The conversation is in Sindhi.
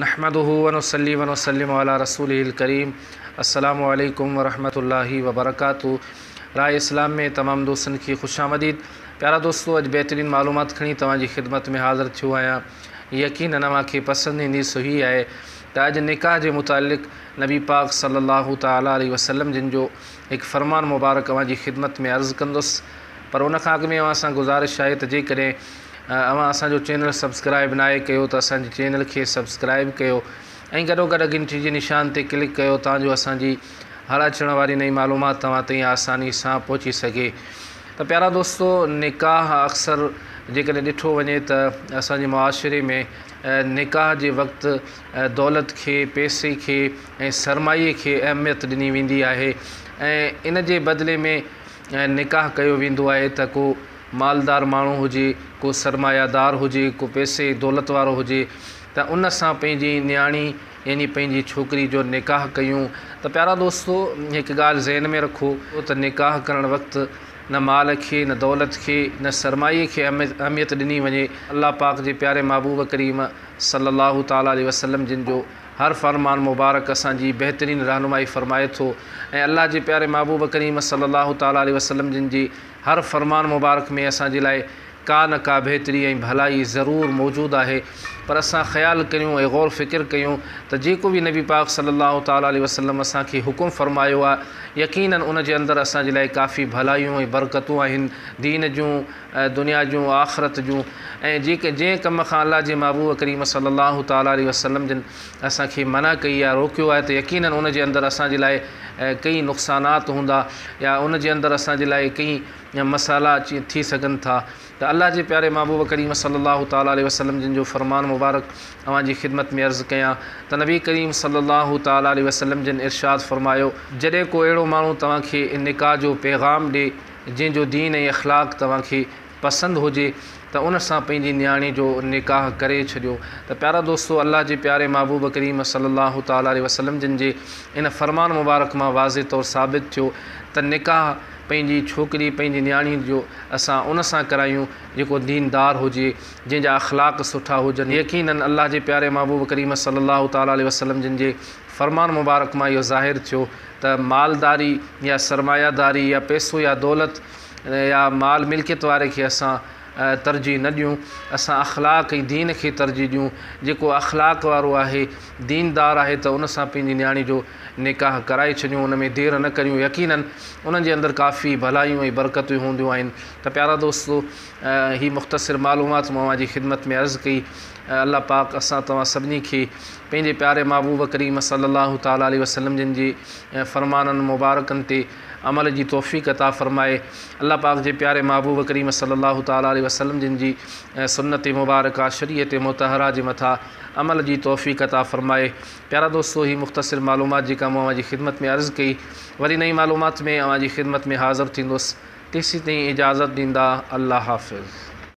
نحمده ونصلي ونسلم علي رسوله الڪريم السلام عليڪم ورحمة الله وبرڪاته راء اسلام ۾ تمام دوستن کي خوش آمديد پيارا دوستو اڄ بهترين معلومات کڻي توهان جي خدمت ۾ حاضر ٿيو آهيان يقينن اوهان کي پسند ايندي سو هي آهي ته اڄ نڪاح جي متعلق نبي پاڪ صلي الله تعالي عليه وسلم جن جو هڪ فرمان مبارڪ اوهان جي خدمت ۾ عرض ڪندس پر ان کان اڳ ۾ اوهان سان گذارش آهي ته جيڪڏهن اوهان اسان جو چينل سبسڪرائب ناهي ڪيو ته اسان جي چينل کي سبسڪرائب ڪيو ۽ گڏو گڏ گهنٽي جي نشان تي ڪلڪ ڪيو تان جو اسان جي هر اچڻ واري نئين معلومات توهان تائين آساني سان پهچي سگهي ته پيارا دوستو نڪاح اڪثر جيڪڏهن ڏٺو وڃي ته اسان جي معاشري ۾ نڪاح جي وقت دولت کي، پئسي کي ۽ سرمايي کي اهميت ڏني ويندي آهي ۽ ان جي بدلي ۾ نڪاح ڪيو ويندو آهي ته ڪو مالدار ماڻهو هجي، ڪو سرمايه دار هجي، ڪو پئسي دولت وارو هجي ته ان سان پنهنجي نياڻي يعني پنهنجي ڇوڪري جو نڪاح ڪيون ته پيارا دوستو هڪ ڳالهه ذهن ۾ رکو ته نڪاح ڪرڻ وقت نه مال کي، نه دولت کي، نه سرمايي کي اهميت ڏني وڃي الله پاڪ جي پياري محبوب ڪريم صلّي اللّٰه تعالٰي عليه وسلّم جن جو هر فرمان مبارڪ اسان جي بهترين رهنمائي فرمائي ٿو ۽ الله جي پياري محبوب ڪريم صلّي اللّٰه تعالٰي عليه وسلّم جن جي هر فرمان مبارڪ ۾ اسان جي لاء ڪا نه ڪا بهتري ۽ ڀلائي ضرور موجود آهي پر اسان خيال ڪريون ۽ غور فڪر ڪيون ته جيڪو به نبي پاڪ صلّي اللّٰه تعالٰي عليه وسلّم اسان کي حڪم فرمايو آهي يقيناً ان جي اندر اسان جي لاء ڪافي ڀلايون ۽ برڪتون آهن دين جون ۽ دنيا جون ۽ آخرت جون ۽ جيڪي جنهن ڪم کان الله جي محبوب ڪريم صلّي الله تعالٰي عليه وسلّم جن اسان کي منع ڪئي آهي روڪيو آهي ته يقينن ان جي اندر اسان جي لاء ڪيئي نقصانات هوندا يا ان جي اندر اسان جي لاء ڪيئي مسئلا اچي ٿي سگهن ٿا ته الله جي پياري محبوب ڪريم صلّي الله تعالٰي عليه وسلّم جن جو فرمان مبارڪ اوهان جي خدمت ۾ عرض ڪيان ته نبي ڪريم صلّي الله تعالٰي عليه وسلّم جن ارشاد فرمايو. جڏهن ڪو اهڙو ماڻهو توهان کي نڪاح جو پيغام ڏي. جنهن جو دين ۽ اخلاق توهان کي پسند هجي ته ان سان پنهنجي نياڻي جو نڪاح ڪري ڇڏيو ته پيارا دوستو الله جي پياري محبوب ڪريم صلي الله تعالٰي عليه وسلم جن جي ان فرمان مبارڪ مان واضح طور ثابت ٿيو ته نڪاح پنهنجي ڇوڪري پنهنجي نياڻي جو اسان ان سان ڪرايون جيڪو دين دار هجي جنهن جا اخلاق سٺا هجن يقينن الله جي پياري محبوب ڪريم صلي الله تعالٰي عليه وسلم جن جي فرمان مبارڪ مان اهو ظاهر ٿيو ته مالداري يا سرمايه داري يا پيسو يا دولت يا مال ملڪيت واري کي اسان ترجيح نه ڏيون اسان اخلاق ۽ دين کي ترجيح ڏيون جيڪو اخلاق وارو آهي دين دار آهي ته ان سان پنهنجي نياڻي جو نڪاح ڪرائي ڇڏيون ان ۾ دير نه ڪريون يقيناً انهن جي اندر ڪافي ڀلايون ۽ برڪتون هونديون آهن ته پيارا دوستو هي مختصر معلومات مون اوهان جي خدمت ۾ عرض ڪئي اي الله پاڪ اسان توهان سڀني کي پنهنجي پياري محبوب ڪريم صلي الله تعالٰي عليه وسلم جن جي فرمانن مبارڪن تي عمل جي توفيق عطا فرماء الله پاڪ جي پياري محبوب ڪريم صلي الله تعالٰي عليه وسلم جن جي سنت مبارڪه شريعت مطهره جي مٿا عمل جي توفيق عطا فرماء پيارا دوستو هي مختصر معلومات جيڪا مون اوهان جي خدمت ۾ عرض ڪئي وري نئين معلومات ۾ اوهان جي خدمت ۾ حاضر ٿيندس تيسين تائين اجازت ڏيندا الله حافظ.